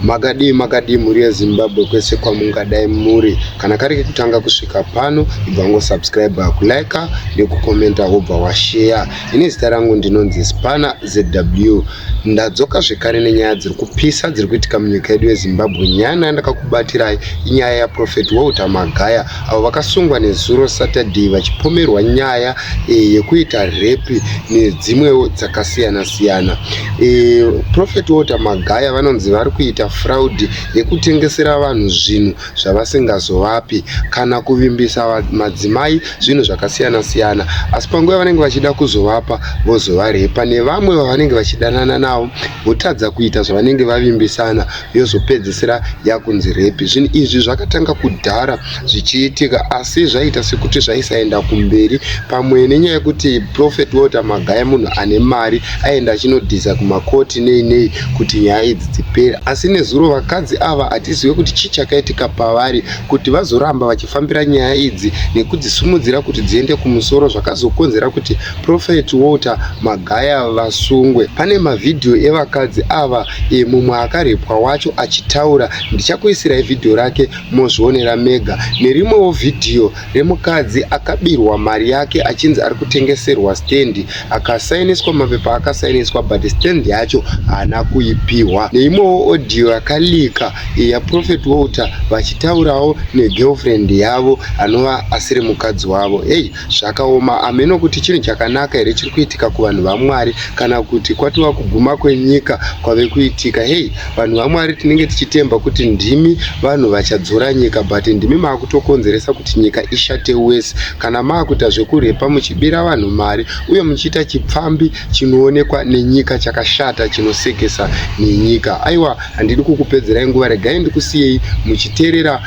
Makadii makadii mhuri yezimbabwe kwese kwamungadai muri kana kari kekutanga kusvika pano ibva wangosubscribe kulike nekukomenta wobva washeya ini zita rangu ndinonzi spana zw ndadzoka zvekare nenyaya dziri kupisa dziri kuitika munyika yedu yezimbabwe nyaya naya ndakakubatirai inyaya yaprofet walter magaya avo vakasungwa nezuro Saturday vachipomerwa nyaya e, yekuita repi nedzimwewo dzakasiyana siyana. E, eh, Prophet Walter Magaya vanonzi vari kuita fraud yekutengesera vanhu zvinhu zvavasingazovapi kana kuvimbisa madzimai zvinhu zvakasiyana siyana, asi panguva yavanenge vachida kuzovapa vozovarepa nevamwe vavanenge vachidanana navo votadza kuita zvavanenge vavimbisana yozopedzisira yakunzi repi zvinhu izvi zvakatanga kudhara zvichiitika asi zvaita sekuti zvaisaenda kumberi pamwe nenyaya yekuti prophet walter magaya munhu ane mari aenda achinodhiza kumakoti nei nei kuti nyaya idzi dzipere asi nezuro vakadzi ava hatizive kuti chii chakaitika pavari kuti vazoramba vachifambira nyaya idzi nekudzisumudzira kuti dziende kumusoro zvakazokonzera kuti Prophet Walter Magaya vasungwe. Pane mavhidhiyo evakadzi ava e, mumwe akarepwa wacho achitaura. Ndichakuisirai vhidhiyo rake mozvionera mega. Nerimwewo vhidhiyo remukadzi akabirwa mari yake achinzi ari kutengeserwa stand akasainiswa mapepa akasainiswa but stand yacho haana kuipihwa. Neimwewo audio yakalika e, yaProphet Walter vachitaurawo negirlfriend yavo anova asiri mukadzi wavo. Hey, Zvakaoma ameno kuti chinhu chakanaka here chiri kuitika kuvanhu vaMwari kana kuti kwatova kuguma kwenyika kwave kuitika. Hei, vanhu vaMwari tinenge tichitemba kuti ndimi vanhu vachadzora nyika but ndimi maakutokonzeresa kuti nyika ishate wese kana maakuita zvekurhepa muchibira vanhu mari uye muchiita chipfambi chinoonekwa nenyika chakashata chinosekesa nenyika. Aiwa, handidi kukupedzerai nguva, regai ndikusiyei muchiteerera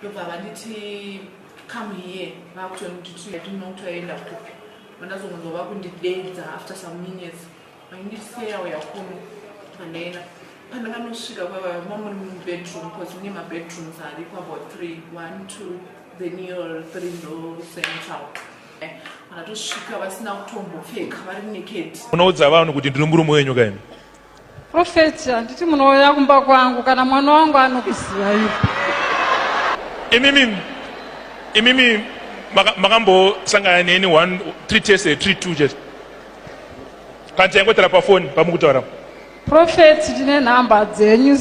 ndobva vanditi come here vakutoona kuti tiyatino kuti vaenda kupi vandazongonzwa vakundideedza after some minutes vanditi seya uya kuno vandaenda pandakanosvika kwava mamuri mubedroom bcause mune mabedrooms ariko about three one two then your three ndo central eh, vanatosvika vasina kutombopfeka vari nekedi unoudza vanhu kuti ndiri murume wenyu kaini Profeti, handiti munouya kumba kwangu kana mwana wangu anokuziva ivo. Imimi, imimi makambosangana neni one three tests eh, three two just kana taingotara pafoni pamukutaura prophet tine nhamba dzenyu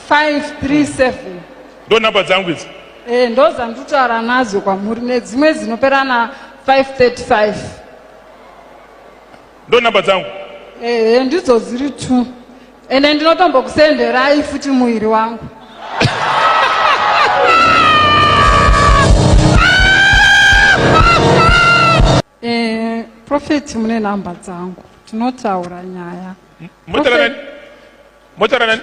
0780247537 ndo number dzangu idzi eh, ndo dzanditaura nadzo kwamuri nedzimwe dzinopera na 535 ndo number dzangu eh, eh, ndidzo dziri two ende ndinotombokusenderai futi muviri wangu eh, profeti mune nhamba dzangu tinotaura nyaya motaura nani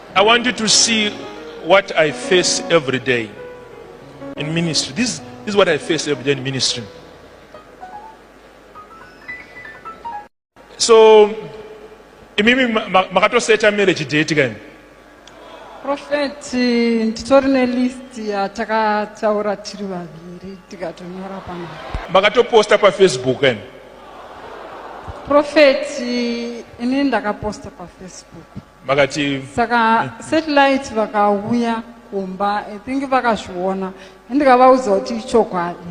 I want you to see what I face every day in ministry. This, this is what I face every day in ministry. So, imimi makatoseta marriage date kani? Prophet, nditori nelist yatakataura tiri vaviri tikatonyora pano. Makatoposta pafacebook kani? Prophet, ini ndakaposta pafacebook. vakati saka satellite vakauya kumba i think vakazviona ndikavaudza kuti ichokwadi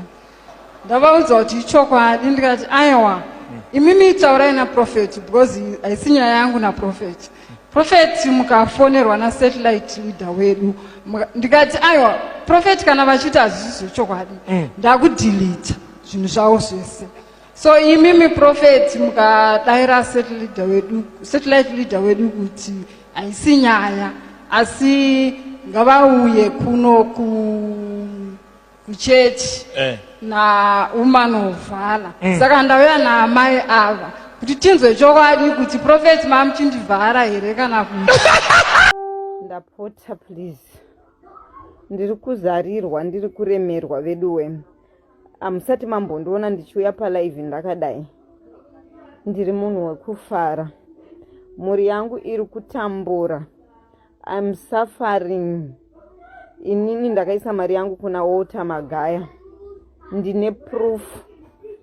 ndavaudza kuti ichokwadi ndikati aiwa hmm. imimi taurai naprofeti because haisi nyaya yangu naprofeti profeti mukafonerwa nasatellite leader wedu ndikati aiwa profeti kana vachiti hazvisi zvechokwadi hmm. ndakudhilita zvinhu zvavo zvese So imimi prophet mukadaira satellite wedu satellite leader wedu kuti haisi nyaya asi ngavauye kuno kuchechi eh. nawoman of valor mm. saka ndauya naamai ava kuti tinzwe chokwadi kuti prophet mamuchindivhara here kana kuti ndapota please ndiri kuzarirwa ndiri kuremerwa veduwe hamusati mambondiona ndichiuya palive ndakadai ndiri munhu wekufara mhuri yangu iri kutambura im suffering inini ndakaisa mari yangu kuna walter magaya ndine proof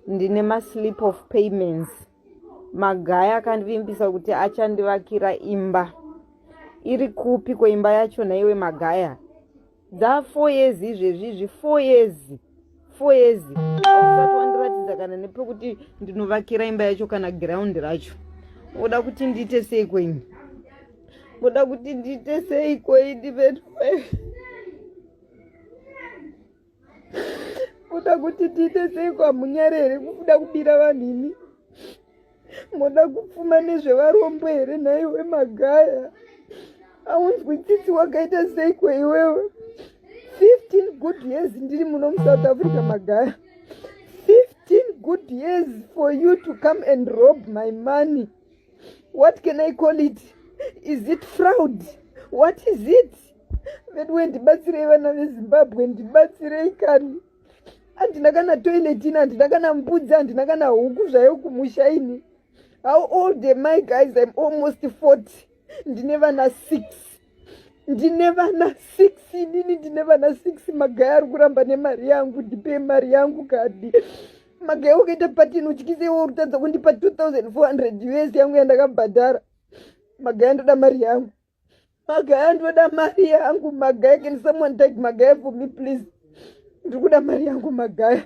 ndine maslip of payments magaya akandivimbisa kuti achandivakira imba iri kupi kweimba yacho naiwe magaya dza four years izvezvi izvi four years four years ausati wandiratidza kana nepekuti ndinovakira imba yacho kana ground racho oda kuti ndiite sei kwenyu oda kuti ndiite sei kweidi vetue oda kuti ndiite sei kwamunyare here kuda kubira vanhu imi moda kupfuma nezvevarombo here nhaiwe magaya aunzwi tsitsi wakaita seiko iwewe 15 good years ndiri muno musouth africa magaya 15 good years for you to come and rob my money what can i call it is it fraud what is it veduwe ndibatsirei vana vezimbabwe ndibatsirei kani handina kana toilet ini handina kana mbudzi handina kana huku zvayo kumusha ini how old am i guys im almost 40 ndine vana six ndine vana six inini ndine vana six magaya ari kuramba nemari yangu ndipei mari yangu kadi magaya ukaita patini utyise iwe uri kutadza kundipa 2400 us yangu yandakabhadhara magaya ndoda mari yangu magaya ndoda mari yangu magaya can someone take magaya for me please ndikuda mari yangu magaya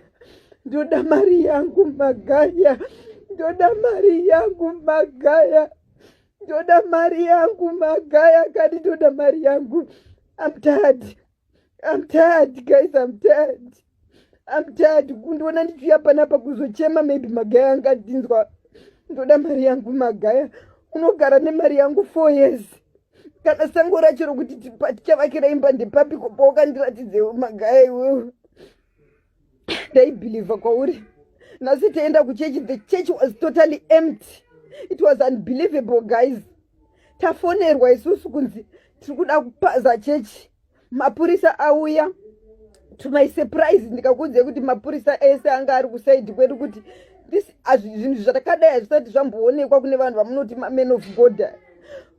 ndoda mari yangu magaya ndoda mari yangu magaya ndoda mari yangu magaya kani ndoda mari yangu amtadi I'm tired guys I'm tired I'm tired kundiona ndichiuya panapa kuzochema maybe magaya anga ndinzwa ndoda mari yangu magaya unogara nemari yangu four years kana sango racho rokuti tichavakira imba ndepapiko paukandiratidzewo magaya iwewe ndaibhilivha kwauri nhasi taenda kuchechi the church was totally empty it was unbelievable guys tafonerwa isusu kunzi tiri kuda kupaza chechi mapurisa auya to my surprise ndikakuudzai kuti mapurisa ese anga ari kusaidi kwedu kuti zvinhu zvatakadai hazvisati zvamboonekwa kune vanhu vamunoti maman of god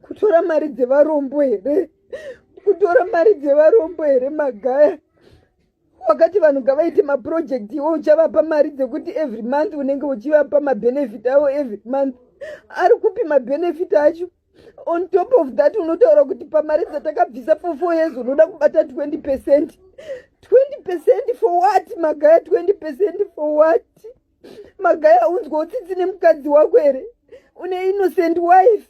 kutora mari dzevarombo here kutora mari dzevarombo here magaya wakati vanhu ngavaite maproject iwo uchavapa mari dzekuti every month unenge uchivapa mabenefit avo every month ari kupi mabenefit acho on top of that unotaura kuti pamari dzatakabvisa for four years unoda kubata 20 percent 20 percent for what magaya 20 percent for what magaya unzwa utsitsi nemukadzi wako here une innocent wife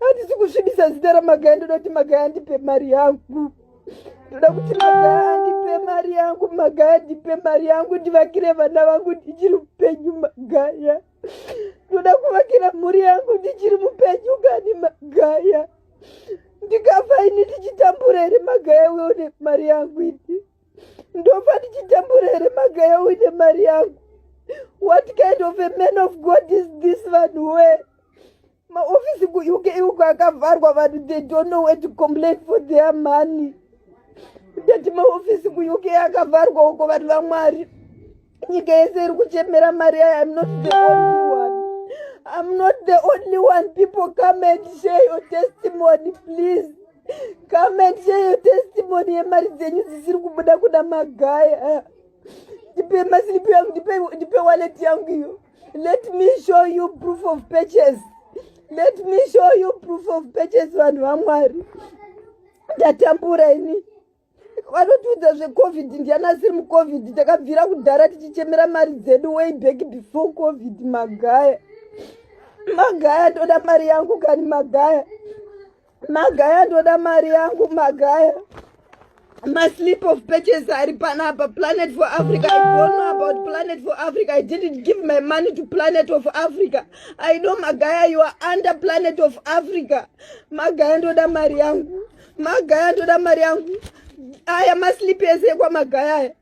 handisi kusvibisa zita ramagaya ndoda kuti magaya andipe mari yangu ndoda kuti magaya andipe mari yangu magaya andipe mari yangu ndivakire vana vangu ndichiri upenyu magaya ndoda kuvakira mhuri yangu ndichiri mupenyu kani magaya ndikafa ini ndichitambura here magaya uyo une mari yangu ini ndofa ndichitambura here magaya uine mari yangu what kind of a man of god is this vanhu wee maofisi kuuk uko akavharwa vanhu they don't know where to complain for their money ndati maofisi kuuk akavharwa uko vanhu vamwari nyika yese iri kuchemera mari yayo im not the only one im not the only one people come and share your testimony please come and share your testimony yemari dzenyu dzisiri kubuda kuda magaya ndipe masilipi yangu ndipe waleti yangu iyo Let me show you proof of purchase. Let me show you proof of purchase vanhu vaMwari. Ndatambura ini. Vanotiudza zveCovid ndiani asiri muCovid takabvira kudhara tichichemera mari dzedu way back before Covid magaya. Magaya ndoda mari yangu kani magaya. Magaya ndoda mari yangu magaya. My slip of purchase ari panapa Planet for Africa. I don't know about Planet for Africa. I didn't give my money to Planet of Africa. I know Magaya you are under Planet of Africa. Magaya ndoda mari yangu. Magaya ndoda mari yangu. Aya maslipi ese ekwa Magaya aya.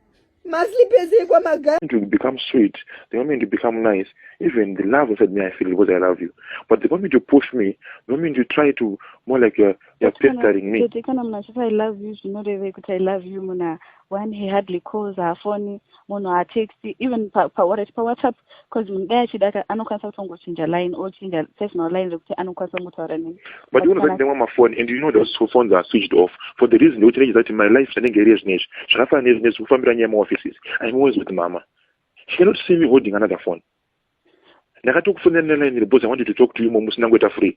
Maslippers ekwa maga. To become sweet, they want me to become nice. Even the love inside me, I feel because I love you. But they want me to push me, they want me to try to more like you're, you're pestering me. Tete kana munhu achiti I love you zvinorevei kuti I love you munhu when he hardly calls her phone munhu haatexti even pa, pa, pa WhatsApp because munhu dai achida ka anokwanisa kutongochinja line ochinja personal line rekuti anokwanisa kungotaura neni but unozati ndemwa mafoni and you know those phones are switched off for the reason yekuti nechiza kuti my life chanenge iri yezvino izvi zvakafanana nezvino izvi kufambira nyaya yemaoffices im always with mama she cannot see me holding another phone ndakatokufonera neline iri because i wanted to talk to you momusina ngoita free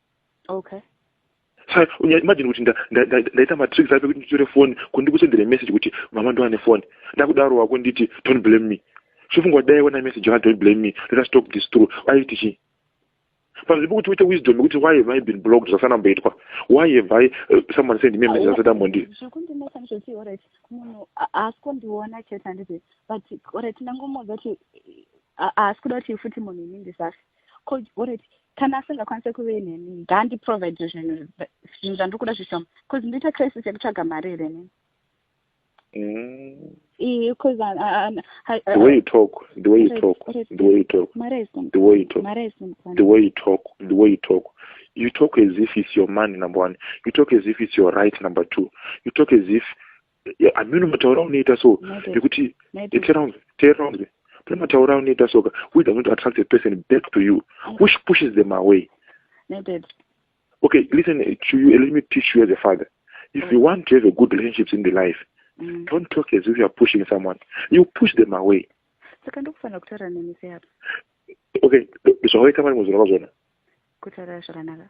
okay sai imagine kuti ndaita matricks ape kuti nditore foni kundikusendere message kuti mama ndoane foni ndakudaro wako nditi don't blame me zvofunga kuti dai ona message yaka don't blame me let us talk this through aiti chii panzvimbo pokuti uite wisdom yekuti why have i been blocked zvasana mboitwa why have i uh, someone send me message asati ambondi munhu haasi kundiona chete handiti but oret ndangomuudza kuti haasi kuda kuti futi munhu ini ndisasi ko uriti kana asingakwanise kuve neni ngaandiprovide zvinhu zvinhu zvandiri kuda zvishoma bcause ndoita crisis yekutsvaga mari here nini You talk as if it's your money, number one. You talk as if it's your right, number two. You talk as if ameno mataura unoita so nekuti teeraunze pane mataura unoita soka who is going to attract a person back to you which pushes them away okay listen to you let me teach you as a father if you want to have a good relationships in the life mm. don't talk as if youare pushing someone you push them away saka ndokufanira kutaura nemi seapo okay zvawaita mari muzorava zvona kutaura zvakanaka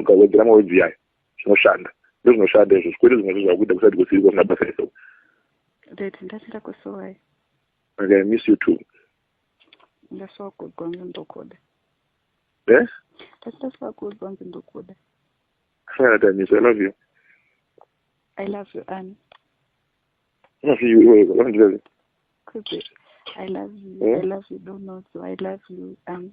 ukawedzera mawedzi yayo zvinoshanda ndozvinoshanda izvo zvikwete zvimwe zvo zvakuita kusati kusiri kwasina basa iso red ndatenda kusuwai okay, miss you too ndasuwa kuudzwa nzi ndokuda eh? ndati ndasuwa kuudzwa nzi ndokuda asanatamiso i love you i love you ani unofi you iwe unondirei kuzi i love you eh? i love you donozo i love you um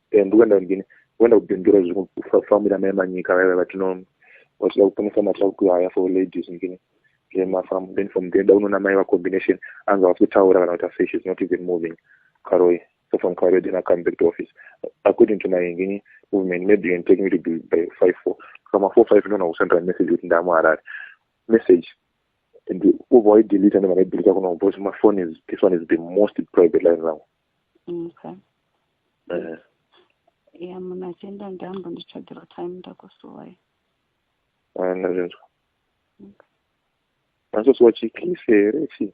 eh, ndokuenda kundini kuenda kubindura zvekufamira mai manyika vaiva vatino vachida kuponesa matsva kuhaya for ladies ndini zvemafamu then from then daunoona mai vacombination anga vasi kutaura kana kuti afesh is not even moving karoi so from karoi then acome back to office according to my ngini movement maybe you can take me to be by five four kama four five ndona kusendera message kuti ndamu harare message and ubva waidelita ndemakadelita kuno because my phone is this one is the most private line rangu okay. ya munhu achienda ndambo nditsvagirwa time ndakusuwai ndazvinzwa masosuwa chikisi here chii